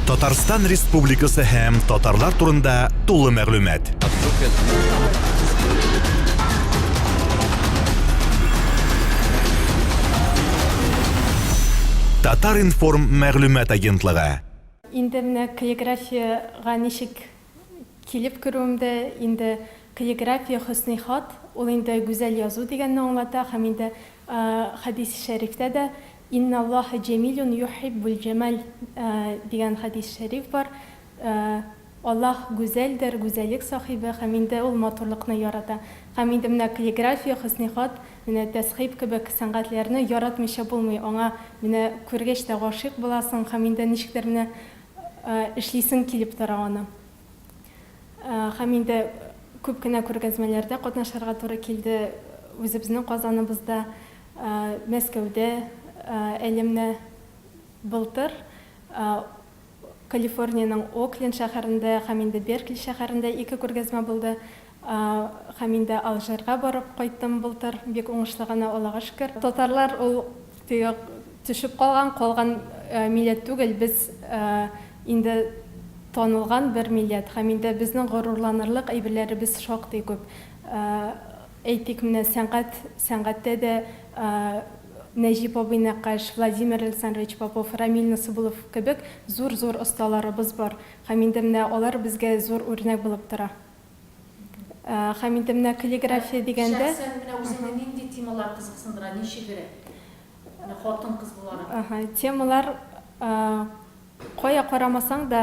Татарстан Республикасы һәм татарлар турында тулы мәгълүмат. Татар информ мәгълүмат агентлыгы. Инде менә каллиграфиягә ничек килеп керүемдә, инде каллиграфия хөсни хат, ул инде гүзәл язу дигәнне аңлата һәм инде хәдис шәрифтә дә Инналлаһа җәмилүн юһиббүлҗәмаль дигән хәдис шәриф бар. Аллаһ гүзәлдер, гүзәллек сахибе, һәм инде Ул матурлыкны ярата. Һәм инде менә каллиграфия, хөснехат, менә тәсхиб кебек сәнгатьләрне яратмыйча булмый. Аңа менә күргәч тә гашыйк буласың һәм инде ничектер менә эшлисең килеп тора аны. Һәм инде күп кенә күргәзмәләрдә катнашырга туры килде үзебезнең Казаныбызда. Мәскәүдә әлемне былтыр Калифорниянең Окленд шәһәрендә һәм инде Беркли шәһәрендә ике күргәзмә булды һәм инде Алжирга барып кайттым былтыр, бик уңышлы гына, Аллага шөкер. Татарлар ул теге төшеп калган, калган милләт түгел, без инде танылган бер милләт һәм инде безнең горурланырлык әйберләребез шактый күп. Әйтик, менә сәнгать, сәнгатьтә дә Нәҗип абый нәккач, Владимир Александрович Попов, Рамил Насыйбулов кебек зур-зур осталарыбыз бар. Һәм инде менә алар безгә зур үрнәк булып тора. Һәм инде менә каллиграфия дигәндә. Шәхсән менә үзеңне нинди темалар кызыксындыра, ничегрәк? Менә хатын-кыз буларак. Темалар. Кая карамасаң да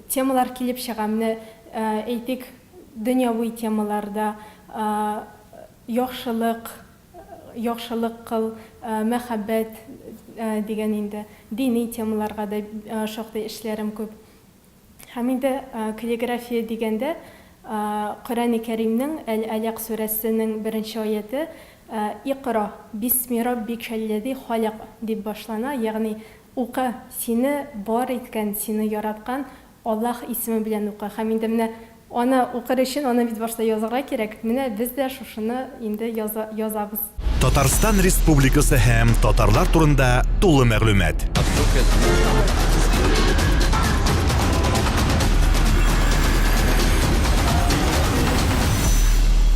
темалар килеп чыга. Менә әйтик, дөньяви темаларда, яхшылык, яхшылык кыл, мәхәббәт дигән инде, дини темаларга да шактый эшләрем күп. Һәм инде каллиграфия дигәндә, Коръәни Кәримнең Әл-Әләк сүрәсенең беренче аяте Икъра бисми раббикәлләзи халәк дип башлана, ягъни Укы, сине бар иткән, сине яраткан Аллаһ исеме белән укы. Һәм инде менә аны укыр өчен аны бит башта язарга кирәк. Менә без дә шушыны инде яза, язабыз. Татарстан Республикасы һәм татарлар турында тулы мәгълүмат.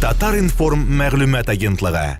Татар-информ мәгълүмат агентлыгы.